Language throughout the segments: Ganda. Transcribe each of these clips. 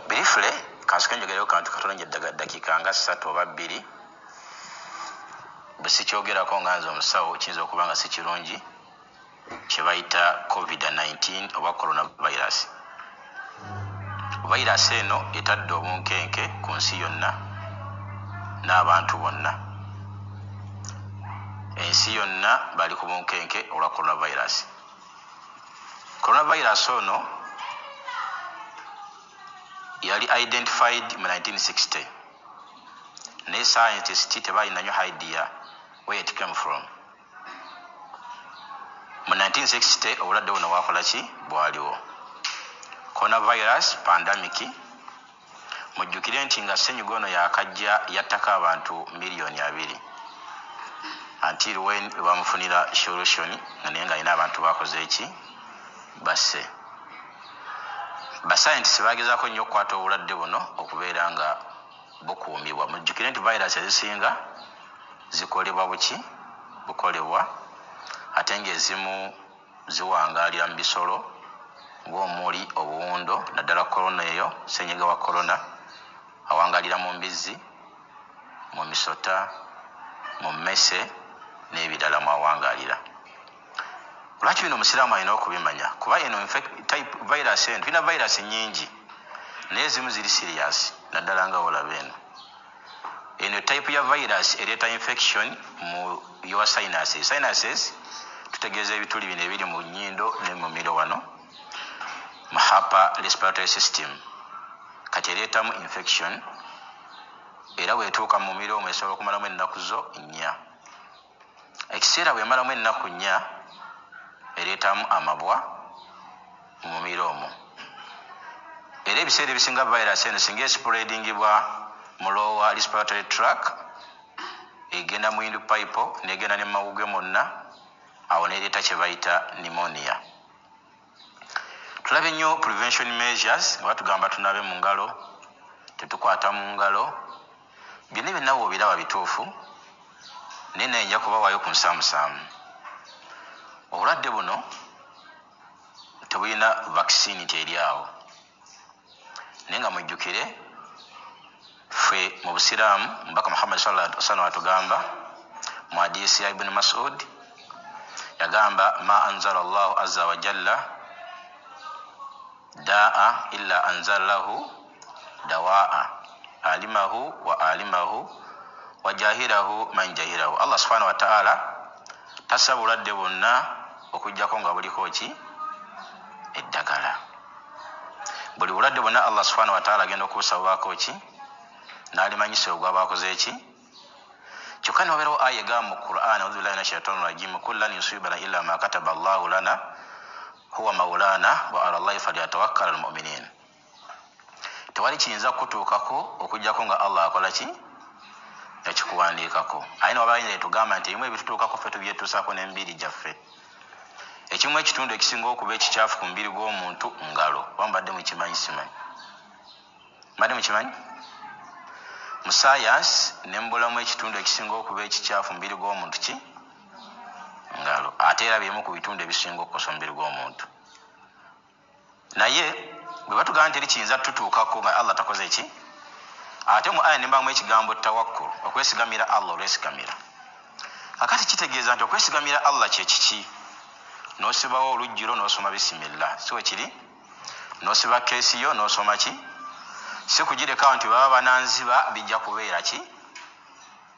birifule kansoke njogereyo kantu katono nje dakiika nga ssatu oba bbiri bwe sikyogerako nga nze omusawo kiyinza okuba nga si kirungi kye bayita covid-19 oba coronavirus Virus eno etadde obunkenke ku nsi yonna n'abantu bonna. Ensi yonna bali ku bunkenke olwa Coronavirus. Coronavirus ono yali identified mu 1960 naye scientists tebalina nyo idea where it came from. mu 1960 obulwadde buno bwakola ki bwaliwo coronavirus pandemic mujjukire nti nga ssenyiga ono yakajja yattako abantu miliyoni abiri until when lwebamufunira solution nga naye nga alina abantu bakoze eki basse basayentisi bagezako nnyo okukwata obulwadde buno okubeera nga bukuumibwa. Mujjukire nti virus ezisinga zikolebwa buki? Bukolebwa ate ng'ezimu ziwangaalira mu bisolo ng'omuli obuwundo naddala Corona eyo, ssennyiga wa Corona, awangaalira mu mbizzi, mu misota, mu mmese n'ebirala mw'awangaalira. lwaki bino omusiraamu alina okubimanya kuba eno type virus eno tulina virus nyingi naye ezimu ziri serious naddala nga olaba eno eno type ya virus ereeta infection mu your sinuses sinuses tutegeeza ebituli bino ebiri mu nyindo ne mu miro wano mu hapa respiratory system kati ereetamu infection era bwetuuka mu miro omwesobola okumalamu ennaku zo nnya Ekiseera bwe yamalamu ennaku nnya ereetamu amabwa mu mumiro omwo era ebiseera ebisinga virus eno singa esipuleedingibwa mu lower respiratory track egenda mu windpipe n'egenda ne mu mawuggwe mwonna awo n'ereeta kye bayita pneumonia. Tulabye nnyo prevention measures nga batugamba tunabe mu ngalo, tetukwata mu ngalo. Byonna ebyo nawe obiraba bituufu naye naye nja kubawaayo ku nsaamusaamu. Obulwadde buno tebulina vaccine nti eri awo. naye nga mujjukire ffe mu busiraamu mubaka muhammadi sallam atugamba mu hadisi ya ibuni masud yagamba ma anzala llahu aza wajalla daa illa anzala lahu dawaa alimahu wa alimahu wajahirahu man jahirahu allah subhanahu wataala tasa bulwadde bwonna okujjako nga buliko ki eddagala buli bulwadde bwonna allah subhana wataala agenda okubusabubaako ki nalimanyisa ogwa baakoze ki kyokka niwabeerawo aya egamba mu quran auzubillahi min ashaitani rajim kullan yusibana illa ma kataba llahu lana huwa maulana wa ala llahi falyatawakkala almuminin tewali kiyinza kukutuukako okujjako nga allah akola ki ekikuwandiikako aye niwabaayinza etugamba nti ebimu ebitutuukako ffe tubyetuusaako n'emibiri gyaffe Ekimu ekitundu ekisinga okuba ekikyafu ku mubiri gw'omuntu ngalo. Oba mubadde mukimanyi simanyi. Mubadde mukimanyi? Mu science ne mu bulamu ekitundu ekisinga okuba ekikyafu mu mubiri gw'omuntu ki? Ngalo. Ate era by'emu ku bitundu ebisinga okukosa omubiri gw'omuntu. Naye bwebatugamba nti eri kiyinza tutuukako nga Allah takoze ki ate mu aya nembamu ekigambo tawakkul okwesigamira Allah olwesigamira kakati kitegeeza nti okwesigamira Allah kyekiki nosibawo olujjiro nosoma bisimillah siwe kiri nosiba keesi yo nosoma ki sikugirekawo nti baba bananziba bijja kubeera ki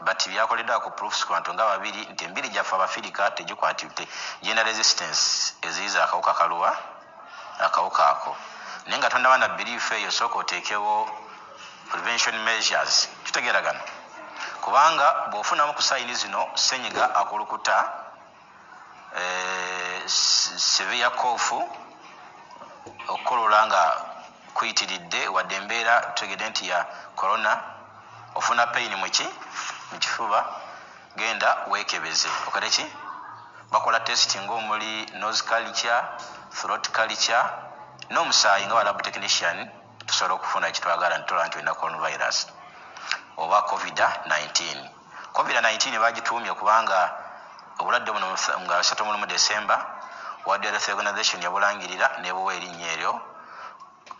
But byakoledwa ku proofs kubantu nga babiri nti embiri gyaffe abafirika tegikwatibte genda resistance eziyiza akawuka kaluwa akawuka ako naye nga tonaba na belief eyo sooka otekewo prevention measures tutegeragana kubanga bwofunamu ku sign zino senyiga akulukuta Severe cough, okukolola nga kuyitiridde wadde embeera tutegedde nti ya Corona, ofuna pain mu ki mu kifuba genda wekebeze okole ki bakola test nga omuli nose culture, throat culture n'omusaayi nga ba lab technician tusobola okufuna kyetwagala nitulaba nti olina coronavirus oba covid 19. Covid nineteen baagituumye kubanga obulwadde buno nga asatu mu lumu December, World Health Organization yabulangirira n'ebuwa erinnya eryo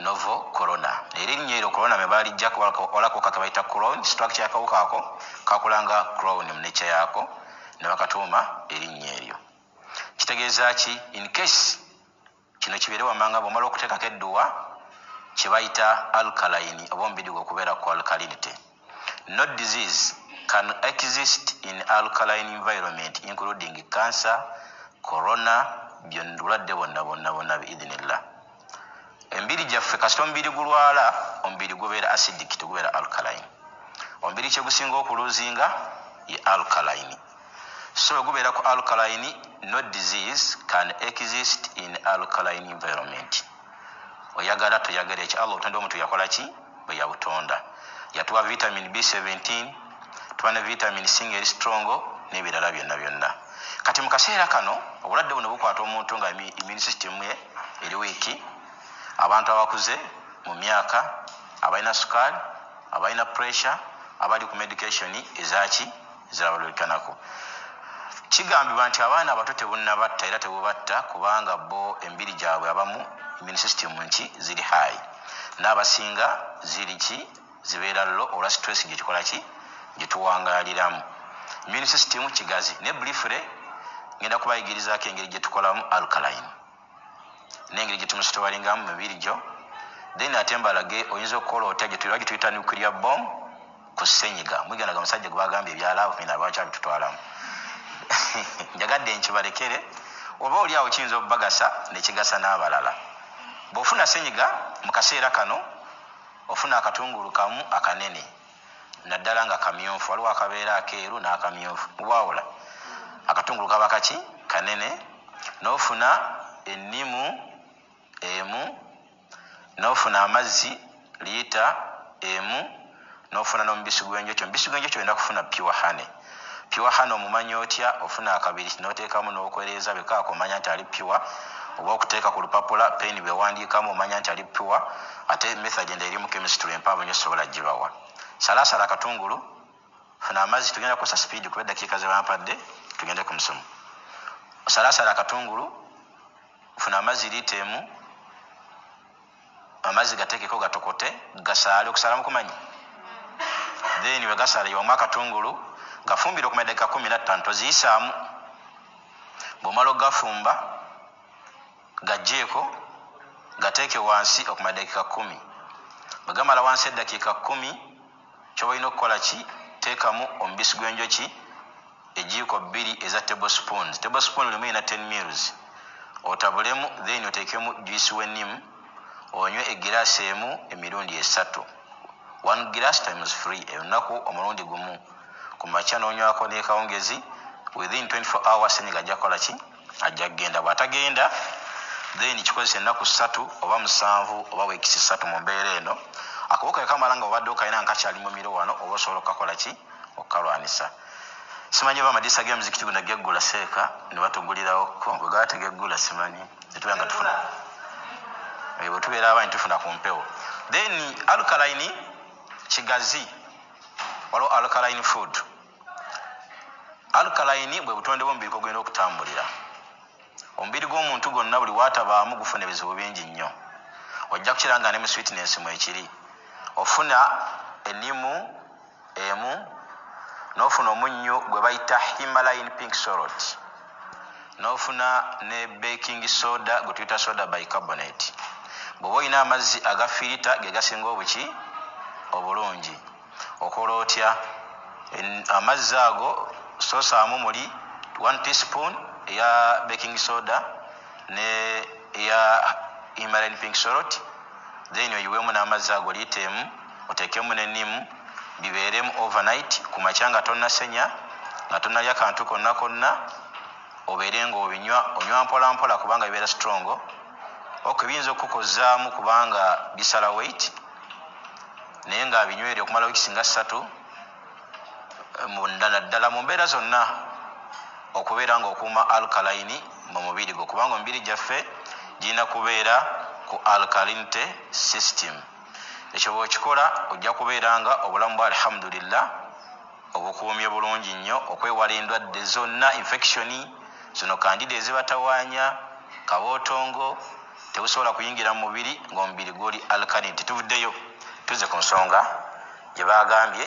Novo Corona. Era erinnya eryo Corona me baalijja walakoka ke bayita Crohn, structure y'akawuka ako kakula nga Crohn mu nature yaako ne bakatuuma erinnya eryo. Kitegeeza ki? In case Kino kibeere wamanga bwomala okutekako edduwa kyebayita alkaline oba omubiri gwo okubeera ku alkalinity. No disease can exist in alkaline environment including cancer, corona byonn bulwadde bwonna bwonna bwonna bi idhinillah. Emibiri gyaffe kasita omubiri gulwala omubiri gubeera acidic tegubeera alkaline. Omubiri kyegusinga oku loosinga ye alkaline. So bwe gubeera ku alkaline, no disease can exist in alkaline environment. Oyagala toyagala ekyo Allah obutonde omuntu yakola ki? Bwe yabutonda. Yatuwa vitamin B17, tuba ne vitamin C ng'eri strong n'ebirala byonna byonna. Kati mu kaseera kano obulwadde buno bukwata omuntu nga immune system ye eri wiiki, abantu abakuze mu myaka, abalina sukaali, abalina pressure, abali ku medication ezaki, ziraba luli kanaku kigambibwa nti abaana abato tebunabatta era tebubatta kubanga bo emibiri gyabwe abamu immune system nki ziri high n'abasinga ziri ki zibeera lo olwa stress gyekikola ki gyetuwangaliramu immune system kigazi ne blifre ngenda kubayigirizaako engeri gyetukolamu alkaline nengeri gyetumusitowalingamu mumibiri gyo then ate mbalage oyinza okukola otya gyetulagi tuyita nuclear bom ku senyiga mwigandaga musajja gwebagambye ebyalaavu mina lwaki abitutwalamu njagadde nkibalekere oba oli awo kiyinza obubagasa nekigasa n'abalala bwofuna senyiga mu kaseera kano ofuna akatungulu kamu akanene naddala nga kamyufu waliwo akabeera akeeru n'akamyufu mubwawula akatungulu kaba kaki kanene n'ofuna ennimu emu n'ofuna amazzi liita emu n'ofuna n'omubisi gw'enjoki omubisi gw'enjoki olina kufuna pure honey Pure Hannah omumanya otya? Ofuna akabiriti n'oteekamu n'okwereeza bwe kaaka omanya nti ali pure oba okuteeka ku lupapula, pen, bye wandiikamu omanya nti ali pure ate method endala eri mu chemistry empanvu nnyo sisobola gibawa. Salaasala akatungulu, funa amazzi tugenda kukozesa sipiidi kuba eddakiika ze bampadde tugende ku musomo. Osalaasala akatungulu, funa amazzi liita emu. Amazzi gatekeko gatokote gasaale okusaala mukumanyi then wegasaala yiwamu akatungulu gafumbire okumala edakika kumi nattano toziyisaamu bwomala ogafumba gajjeeko gateeke wansi okumala edakika kumi bwegamala wansi edakika kumi Ky'olina okukola ki? Teekamu omubisi gw'enjoki ejjiiko bbiri eza table spoons, table spoon limu erina ten mils, otabulemu then oteekemu juice w'ennimu onywe eggiraasi emu emirundi esatu, one glass times three, olunaku omulundi gumu, ku makya n'onywako n'ekawungezi, within twenty four hours ssenyiga ajja kukola ki? ajja kugenda bwatagenda then kikozesa ennaku ssatu oba musanvu oba weekisi ssatu mu mbeera eno akawuka ekamala nga obadde okalina nga kakyali mu miro wano oba osobola okukakola ki okukalwanisa simanyi oba amadiisa g'emizikiti gona geggula seeka ne batugulirawo ko bwe gaba tegeggula simanyi netubeera nga tufuna bwe tubeera abaanyi tufuna ku mpewo then alkaline kigazi waliwo alkaline food Alkaline bwe butonde bw'omubiri kwe gulina okutambulira. Omubiri gw'omuntu gwonna buli w'atabaamu gufuna ebizibu bingi nnyo. Ojja kukiraba nga ne mu sweetness mwekiri. Ofuna ennimu emu n'ofuna omunnyu gwe bayita Himalayan pink salt n'ofuna ne baking soda gwe tuyita soda bicarbonate. Bw'oba olina amazzi aga fiirita ge gasinga obuki obulungi. Okola otya en amazzi ago so saamu muli one tea spoon eya baking soda ne eya Himalayan pink salt then oyiwemu namazzi ago litre emu otekemu ne neem biberemu over night kumakya nga tonasenya nga tonalya kantu konna konna obere nga obinywa onywa mpola mpola kubanga bibera strong ok biyinza okukukozamu kubanga bisala weight. naye nga abinywere okumala wiki singa ssatu naddala mu mbeera zonna okubeera nga okuuma alkalayini mu mubiri gwo kubanga omubiri gyaffe girina kubeera ku alkalinity system ekyo bwokikola ojja kubeera nga obulamu bwa alhamdulillah obukuumye bulungi nnyo okwewala endwadde zonna infectioni zino kandida ezibatawanya kabootongo Tebusobola kuyingira mu mubiri ng'omubiri guli alkaline. Tetuvuddeyo tuzze ku nsonga gye baagambye.